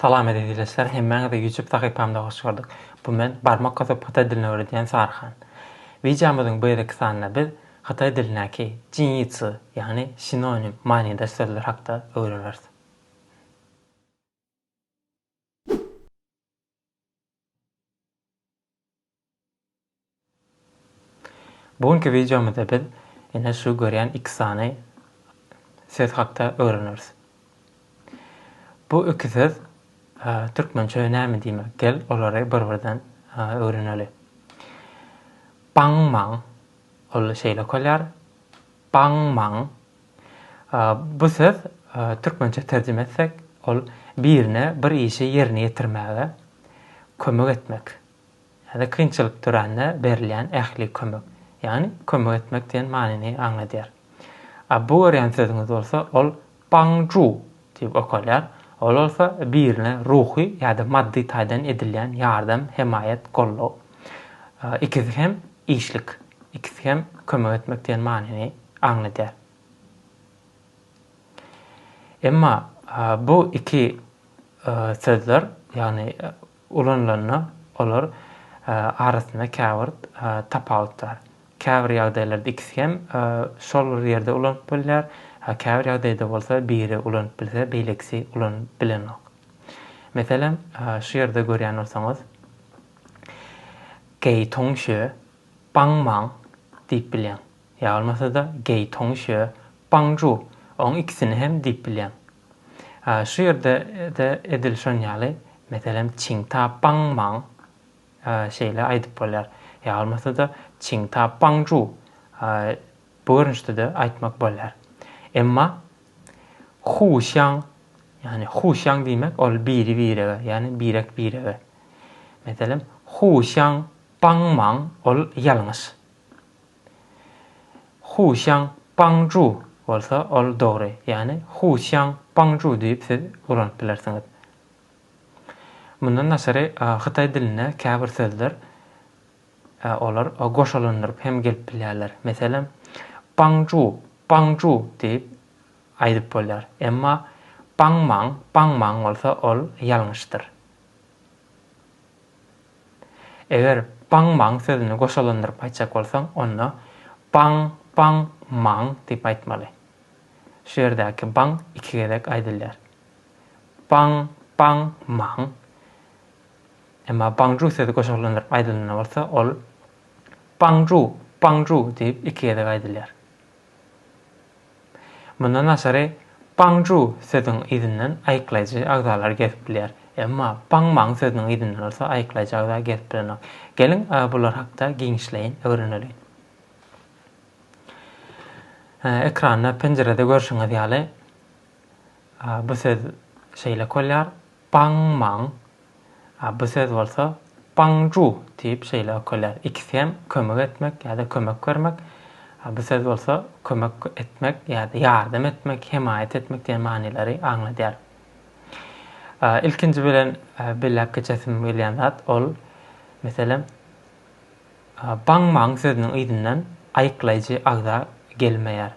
Salam eziz ildeşler hemmäňizi ýutup sahypamda hoş gördük bu men barmak basyp hytaý dilini öwredýän Sarhan. Wideomyzyň bu gezeki sanynda biz hytaý dilindäki jinýitsu ýagny sinonim manydaş sözler hakda öwreneris. Bu günki wideomyzda biz ine şu görýän iki sany söz hakda öwreneris. Bu iki söz türkmençe näme diýmek? Gel olary bir-birden öwreneli. Baňmaň, ol şeýle okalýar. Baňmaň, Bu söz türkmençe terjime etsek, ol birine bir işi ýerine ýetirmäge kömek etmek ýa-da kynçylyk dörände berilýän ähli kömek, ýagny kömek etmek diýen manyny aňladýar. A bu görýän sözüňiz bolsa, ol Bangju Diýip okalýar. Ol bolsa birine ruhy ýa-da maddy taýdan edilýän ýardam, hemaýat, goldaw. Ikisi hem işlik, ikisi hem kömek etmek diýen manyny aňladýar. Emma bu iki sözler, ýagny Ulanylanda olar arasynda käbir tapawut bar. Käbir ýagdaýlarda ikisi hem şol bir ýerde ulanyp bolýar, käbir ýagdaýda bolsa biri ulanyp bilse, beýlekisi ulanyp bilenok. Meselem, şu ýerde görýän bolsaňyz, Geý toňşy, baň-maň diýip bilýäň. Ýa bolmasa-da Geý Toňiş ýa Baň Ju, oň ikisini hem diýip bilýäň. A şu ýerde-de edil şon ýaly, meselem, Çiň Ta Baň Maň şeýle aýdyp bolýar. Ýa bolmasa-da Çiň Ta Baň Ju bu görnüşde-de aýtmak bolýar. Emma Hu Şýaň, ýagny Hu Şýaň diýmek ol biri-birege, ýagny birek-birege. Meselem, Hu Şýaň Baň Maň ol ýalňyş. Husiang Pangju bolsa ol dogry, ýagny Husiang Pangju diýip siz ulanyp bilersiňiz. Mundan daşary hytaý dilinde käbir sözler olar goşalandyryp hem gelip bilýärler. Meselem, Pangju, Pangju diýip aýdyp bolýar. Emma Pangmang, Pangmang bolsa ol ýalňyşdyr. Eger baň maň sözüni goşalandyryp aýtjak bolsaň, onda baň baň maň diýip aýtmaly. Şu ýerdäki baň iki gezek aýdylýar. Baň baň maň. Emma baňju sözi goşalandyryp aýdylanda bolsa, ol baňju baňju diýip iki gezek aýdylýar. Mundan daşary, Bangju sözüň yzyndan aýyklaýjy agzalar gezip bilýär. Emma Bangmang sözüniň yzyndan bolsa aýyklaýjy agza gezip bilenok. Geliň, bular hakda giňişleýin öwreneliň. Ekranda, penjirede görşüňiz ýaly, bu söz şeýle okalýar. Bang Mang, a bu söz bolsa Bang Zhu diýip şeýle ökülýär. Ikisi hem kömek etmek ýa-da kömek bermek, a bu söz bolsa kömek etmek ýa-da ýardam etmek, hemaýat etmek diýen manylary aňladýar. Ilkinji bilen belläp geçesim gelýän zat, ol, meselem, Bang Mang sözüniň yzyndan aýyklaýjy agza gelmeýär.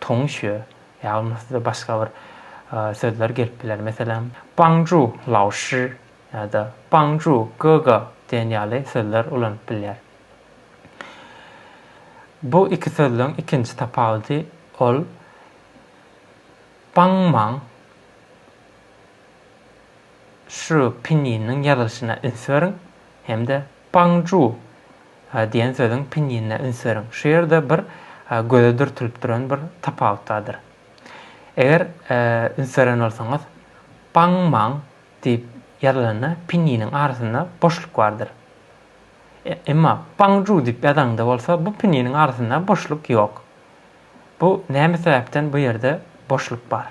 Tongşue, ýagny size başga bir sözler gelip biler, meselem, Bangju laoşi ýa-da Bangju gogo diýen ýaly sözler ulanyp bilýär. Bu iki sözleň ikinji tapawudy ol Bangmaň şu pinýiniň ýazylyşyna üns beriň hem-de Bangju Diýen sözüň pinjinine üns beriň. Şu ýerde bir göze dürtülip duran bir tapawut bardyr. Eger üns beren bolsaňyz, Bang Mang diýip ýazylanda pinjiniň arasynda boşluk bardyr. Emma Bang Ju diýip ýazaňda bolsa bu pinjiniň arasynda boşluk ýok. Bu näme sebäpden bu ýerde boşluk bar?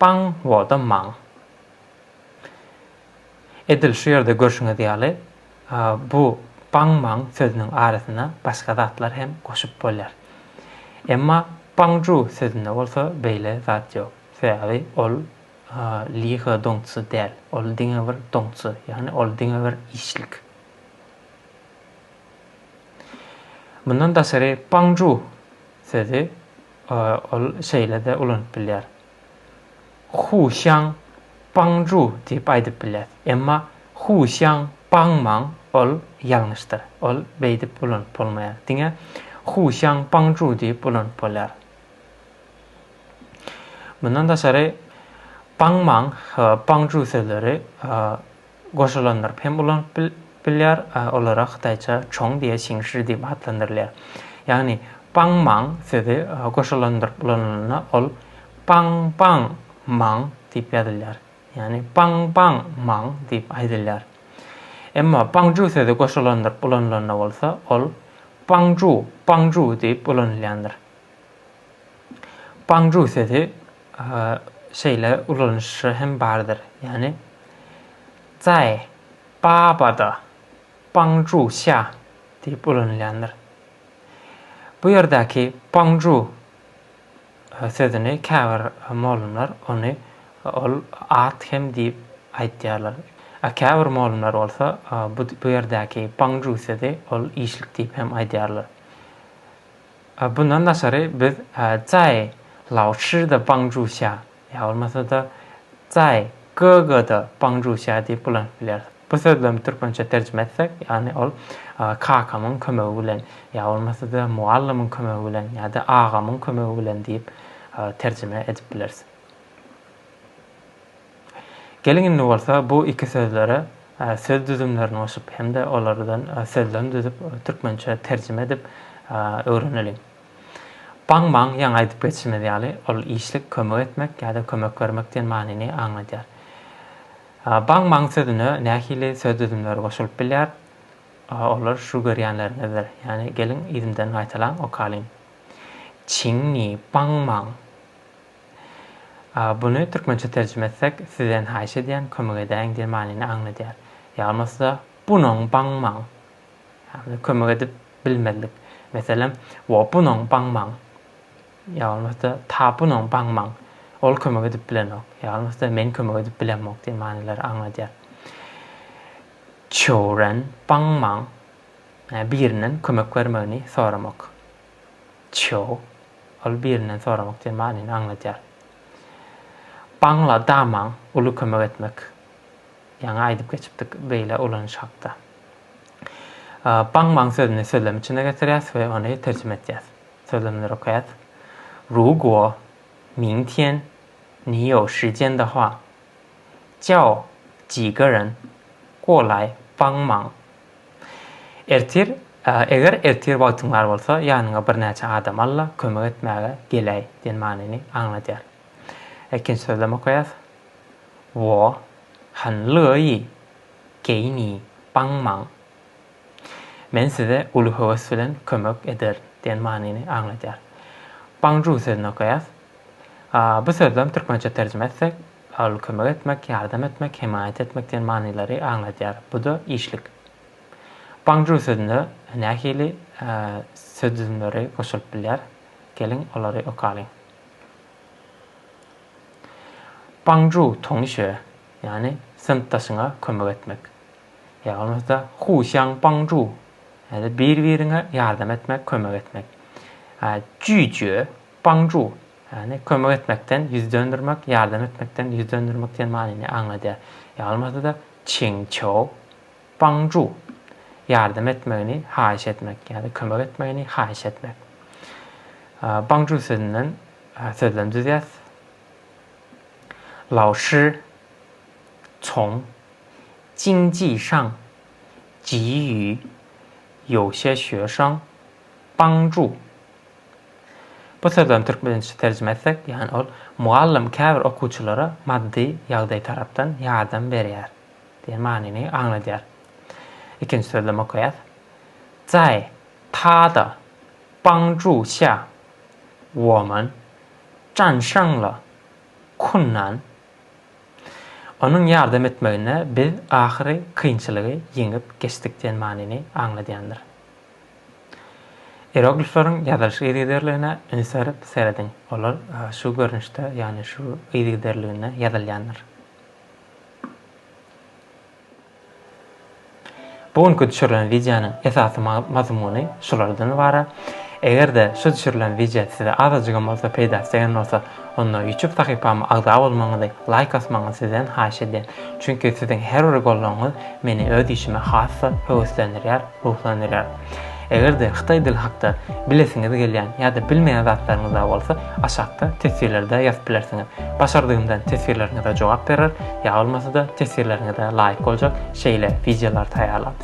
Baň Woda Maň. Edil şu ýerde görşüňiz ýaly, bu Baň Maň sözüniň arasyna başga zatlar hem goşup bolýar. Emma Bangju sözünde bolsa beýle zat ýok. Sebäbi ol Li He Dongçy däl, ol diňe bir Dongçy, ýagny ol diňe bir işlik. Mundan daşary Bangju sözi Ol şeýle-de ulanyp bilýär. Hu xiang bang zhu diýip aýdyp bilýäs. Emma hu xiang bang mang ol ýalňyşdyr. Ol beýdip ulanyp bolmaýar. Diňe hu xiang bang zhu diýip ulanyp bolýar. Mundan daşary bang mang, bang zhu sözleri goşulandyryp hem ulanyp bilýär, olara hytaýça çong diýe çingşi diýip atlandyrylýar. Ýagny paň maň sözi goşulandyryp ulanylanda ol paň paň maň diýip ýazylýar. Ýagny paň paň maň diýip aýdylýar. Emma paňju sözi goşulandyryp ulanylanda bolsa ol paňju paňju diýip ulanylýandyr. Paňju sözi şeýle ulanyşy hem bardyr, ýagny Zae, Babada, Bangju, Xia diýip ulanylýandyr. Bu ýerdäki Bangju sözüni käbir mollumlar ony ol at hem diýip aýtýarlar. A käbir mollumlar bolsa bu ýerdäki Bangju sözi ol işlik diýip hem aýdýarlar. A bundan daşary biz Zai, Laoshi-de Bangzhuxia, ýa bolmasa-da Zai, Ge-ge-de Bangzhuxia diýip ulanyp bilýäris. Bu sözlemi türkmençe terjime etsek, ýagny ol kakamyň kömegi bilen, ýa bolmasa-da mugallymyň kömegi bilen ýa-da agamyň kömegi bilen diýip terjime edip bileris. Geliň indi bolsa bu iki sözlere söz düzümlerini goşup hem-de olardan sözlem düzüp, türkmençä terjime edip öwreneliň. Baň-baň ýaňy aýdyp geçişimiz ýaly ol işlik kömek etmek ýa-da kömek bermek diýen manyny aňladýar. Baň-baň sözüne nähili söz düzümleri goşulyp bilýär? Olar şu görýänleriňizdir. Ýagny geliň yzymdan gaýtalaň, okalyň. Çiňňi, baň-baň. Buny türkmençe terjime etsek, sizden haýyş edýän, kömek edäýiň diýen manyny aňladýar. Ýa bolmasa, bunoň baňmaň. Ýagny kömek edip bilmezlik. Meselem, wo bunoň baňmaň. Ýa bolmasa, ta bunoň baňmaň. Ol kömek edip bilenok. Ýa bolmasa, men kömek edip bilemok diýen manylary aňladýar. Çoren baňmaň. Birinden kömek bermegini soramak. Çjou, ol birinden soramak diýen manyny aňladýar. Baňla Damaň uly kömek etmek, ýaňy aýdyp geçipdik beýle ulanyş hakda. Baňmaň sözüni sözlem içine getirýäs we ony terjime etýäs. Sözlemleri okaýas. Ru guo, ming tian, ni you shi jian de hua, jiao ji ge ren, guo lai, baňmaň. Ertir, eger ertir wagtyň bar bolsa, ýanyňa birnäçe adam al-da, kömek etmäge geläý diýen manyny aňladýar. Ikinji sözlem okaýas. Wo han lýo ýi geý ni baň maň. Men size uly höwes bilen kömek ederin diýen manyny aňladýar. Baň-ju sözüni okaýas. Bu sözlem türkmençe terjime etsek, Al, kömek etmek, ýardam etmek, hemaýat etmek diýen manylary aňladýar. Bu-da işlik. Bangju sözüne nähili söz düzümleri goşulyp bilýär? Geliň, olary okalyň. Bangju, toňyşe, ýagny synpdaşyňa kömek etmek. Ýa bolmasa, husiang bangju, ýa-da bir-biriňe ýardam etmek, kömek etmek. Jüýjüe, bangju, Ýagny, kömek etmekden ýüz döndermek, ýardam etmekden ýüz döndermek diýen manyny aňladýar. Ýalmasa-da, çing çou, bang ju, ýardam etmegini haýyş etmek ýa-da kömek etmegini haýyş etmek. Bang ju sözünden sözlem düzýäs. Lao shi cong jing ji shang ji ýu you xie xue shang bang ju. Bu sözlerini türkmençe terjime etsek, ýagny ol mugallym käbir okuwçylara maddy ýagdaý tarapdan ýardam berýär diýen manyny aňladýar. Ikinji sözlemi okaýas. Zai ta de bang zhu xia, wo men zhan sheng le kun nan. Onuň ýardam etmeginde biz ahyry kynçylygy ýeňip geçdik diýen manyny aňladýandyr. Iyeroglifleriň ýazylyş yzygiderligine üns berip serediň, olar şu görnüşde, ýagny şu yzygiderliginde ýazylýandyr. Bu günki düşürilen wideonyň esasy mazmuny şulardan ybarat. Eger-de şu düşürilen wideo size azajygam bolsa peýdasy degen bolsa, Onda YouTube sahypama agza bolmagyňyzy, laýk asmagyňyzy sizden haýyş edýän. Çünki siziň her bir goldawyňyz meni öz işime has-da höweslendirýär, ruhlandyrýar. Eger-de hytaý dili hakda bilesiňiz gelýän ýa-da bilmeýän zatlaryňyz bar bolsa, aşakda teswirlerde ýazyp bilersiňiz. Başardygymdan teswirleriňize jogap berer, ýa bolmasa-da teswirleriňize laýyk boljak şeýle wideolary taýýarlap,